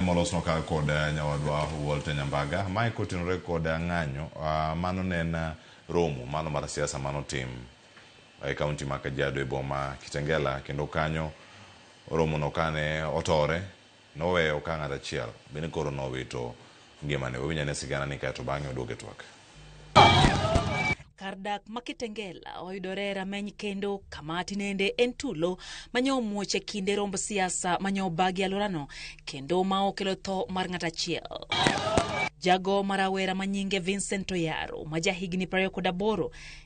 molosnwa ka kod eh, nyawadwa Walter Nyambaga. Mae kotenore kod eh, ng'anyo ah, mano ne en eh, romo mano mar siasa mano tim e kaunti ma Kajiado e boma Kitengela kendo kanyo romono kane otore noweyo ka ng'at achiel bende koro nowito ngimane. Wawinjane sigana ni kae to bang'e oduoge twak. Kar dak ma Kitengela oyudore rameny kendo kama tinende en tulo manyo omuoch e kinde romb siasa manyo obagi alworano kendo ma okelo tho mar ng'at achiel. Jago ma rawera ma nyinge Vincent Oyaro ma jahigni 28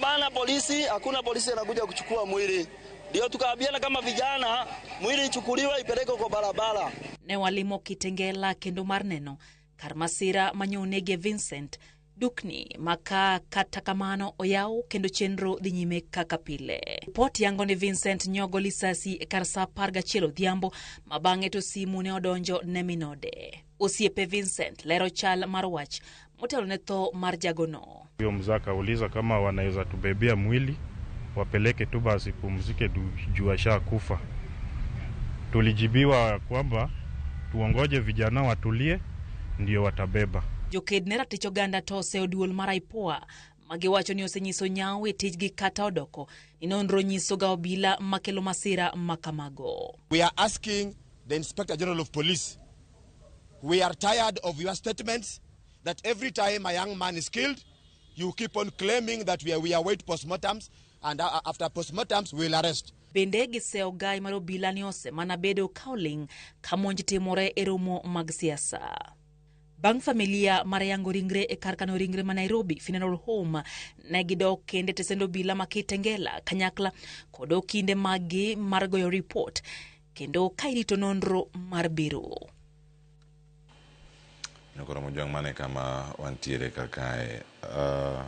Bana polisi, hakuna polisi anakuja kuchukua mwili, ndio tukaambiana kama vijana, mwili ichukuliwe ipelekwe kwa barabara. Ne walimo Kitengela kendo mar neno kar masira ma nyonegie Vincent dukni maka kata kamano oyaw kendo chenro dhi nyime kaka pile. Ripot yango ni Vincent nyogo lisasi e kar saa apar gachiel odhiambo ma bang'e to simu ne odonjo ne minode. Osiepe Vincent lero chal mar wach Motelo ne tho mar jagono. Huyo mzee akauliza kama wanaweza tubebea mwili wapeleke tu basi pumzike juu ashakufa. Tulijibiwa kwamba tuongoje vijana watulie ndio watabeba. Joked ne ratich oganda to oseyo duol mar IPOA magiwacho ni osenyiso nyawo e tijgi kata odoko ni nonro nyisoga obila makelo masira makamago. We are asking the Inspector General of Police We are tired of your statements that every time a young man is killed, you keep on claiming that we, are, we await postmortems and uh, after postmortems we'll arrest. Bende gisewo gai mar obila ni osemana bedo ka oling' ka monj timore e romo mag siasa. Bang' familia mar yango ringre e kar kano ringre ma Nairobi Funeral Home ne gidok kende tesend obila ma Kitengela kanyakla kod okinde maggi mar goyo ripot kendo ka irito nonro mar biro. Nokoro mojwang' mane kama wantiere kar kae. Uh,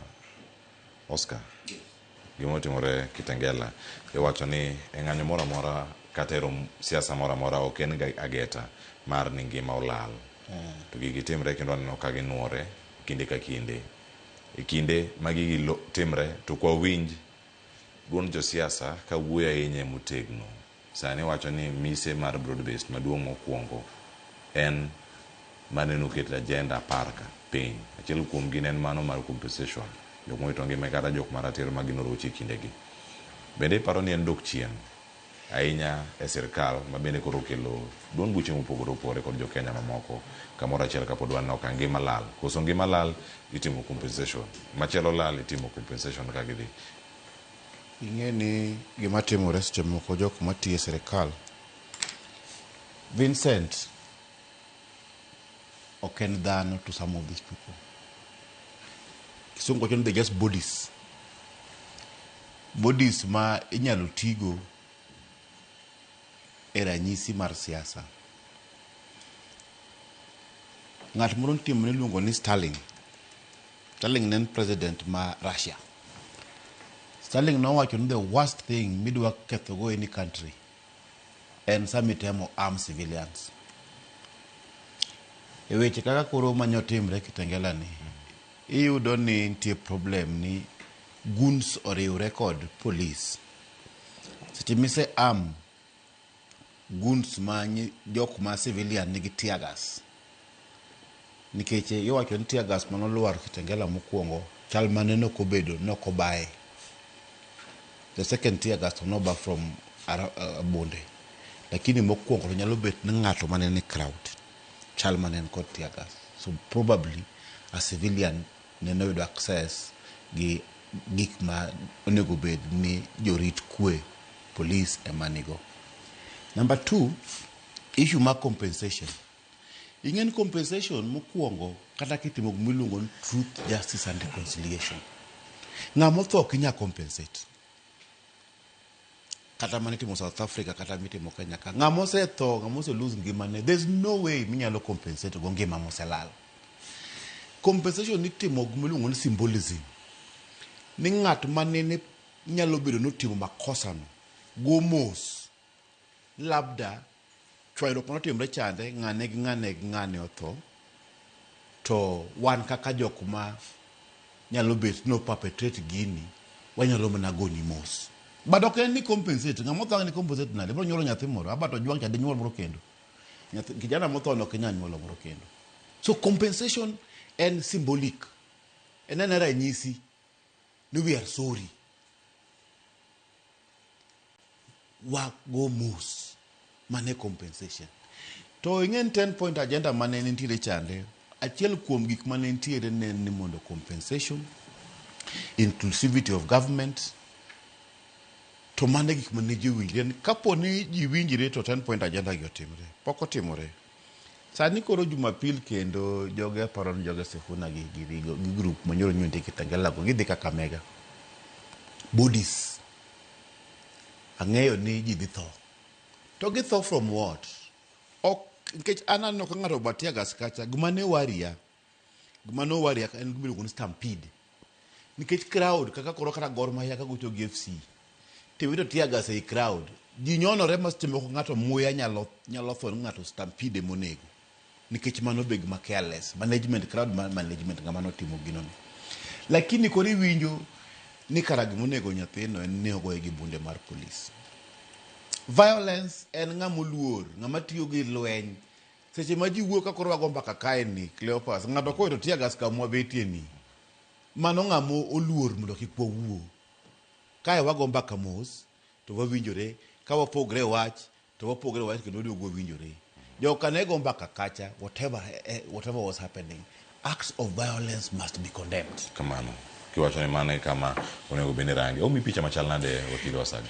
Oscar, gima otimore Kitengela, iwacho ni e ng'anyo moro amora kata e rom siasa moro amora ok en ga ageta mar ni ngima olal. To gigi timre kendo aneno ka ginuore kinde ka kinde. E kinde ma gigi lo- timre to kwa winj duond josiasa ka wuoyo ahinya e motegno. Sani iwacho ni mise mar broad based maduong' mokuongo en mane noket e agenda apar ka piny. Achiel kuom gi ne en mano mar compensation jok mowito ngima gi kata jok ma ratiro ma gin oroche e kinde gi. Bende iparo ni en dok chien ahinya e sirkal ma bende koro okelo duond buche mopogore opogore kod jo Kenya mamoko kamoro achiel kapod waneno ka ngima lal. Koso ngima lal itimo compensation. Machielo lal itimo compensation ka gidhi. Ing'e ni gima timore seche moko jok matiyo e sirikal, Vincent ok en dhano to some of these people. Kisungu wacho ni they just bodies. Bodies ma inyalo tigo e ranyisi mar siasa. Ng'at moro nitie mane iluongo ni Sterling. Sterling ne en president ma Russia. Sterling nowacho ni the worst thing midwa kethogo any country en sama itemo arm civilians. E weche kaka koro manyo timre Kitengela ni, iyudo ni nitie problem ni goons oriwre kod police. Seche mise arm guns ma jok ma civilian nigi tear gas nikech iwacho ni tear gas mano lwar Kitengela mokwongo chal mane no kobedo no kobaye the second tear gas no ba from uh, Bunde lakini mokwongo to nyalo bet ni ng'ato mane ni crowd chal mane kod tear gas so probably a civilian nene oyudo access gi gik ma onego bed ni jorit kwe, police, ema nigo. Number two, issue mar compensation. Ing'e ni compensation mokuongo kata kitimo gima iluongo ni truth, justice and reconciliation, ng'ama otho ok inyal compensate. kata mane itimo South Africa kata mitimo Kenya ka ng'ama osetho ng'ama ose lose ngimane there's no way minyalo compensate go ngima moselal compensation itimo gima iluongo ni symbolism ni ng'at ma nene nyalo bedo ni otimo makosano go mos labda Chwanyruok mane otimre chande, ng'a neg ng'a neg ng'ane otho, to wan kaka jok ma nyalo bet no perpetrate gini, wanyalo mana goni mos. But ok en ni compensate, ng'ama otho ang' ni compensate nade, ibiro nyuolo nyathi moro, aba to ojwang' cha dinyuol moro kendo? Nyathi, kijana motho no ok inyal nyuolo moro kendo. So compensation en symbolic, en en ranyisi. ni we are sorry wago mos mane compensation to ing'eni 10 point agenda mane nitiere chande achiel kuom gik mane nitiere ne en ni mondo compensation inclusivity of government to mane gik mane ji winjre ni kapo ni ji winjre to 10 point agenda gi otimre pok otimore Sani koro Jumapil kendo joge aparo ni joge Sifuna gi gi gi gi group monyoro nyundi Kitengela go gidhi Kakamega. Budis. Ang'eyo ni ji dhi tho. To githo from what? Ok nikech an aneno ka ng'ato obatia gas kacha gima ne waria Gima no worry en gima iluongo ni stampede. Nikech crowd kaka koro kata Gor Mahia ka gocho gi FC tiwito tear gas ei crowd. Ji nyonore ma seche moko ng'ato muya nyalo nyalo tho ng'ato stampede monego. Nikech mano be gima careless. Management crowd ma management ng'ama notimo gino ni. Lakini koro iwinjo ni kara gima onego nyathino en ni ogoye gi bunde mar police. Violence en ng'ama oluor, ng'ama tiyo gi lweny Seche ma ji wuok ka koro wago mbaka kae ni, Cleopas, ng'ato kowito tear gas kama wabetie ni, mano ng'ama oluor mondo kik wawuo. Kae wago mbaka mos to wawinjore, ka wapogre e wach to wapogre e wach kendo waduogo wawinjore. Jogo ka ne go mbaka kacha, whatever, whatever was happening, acts of violence must be condemned. Kamano. Kiwacho ni mano e kama onego bed ni irange. Omi picha machal nade wakili Wasaga?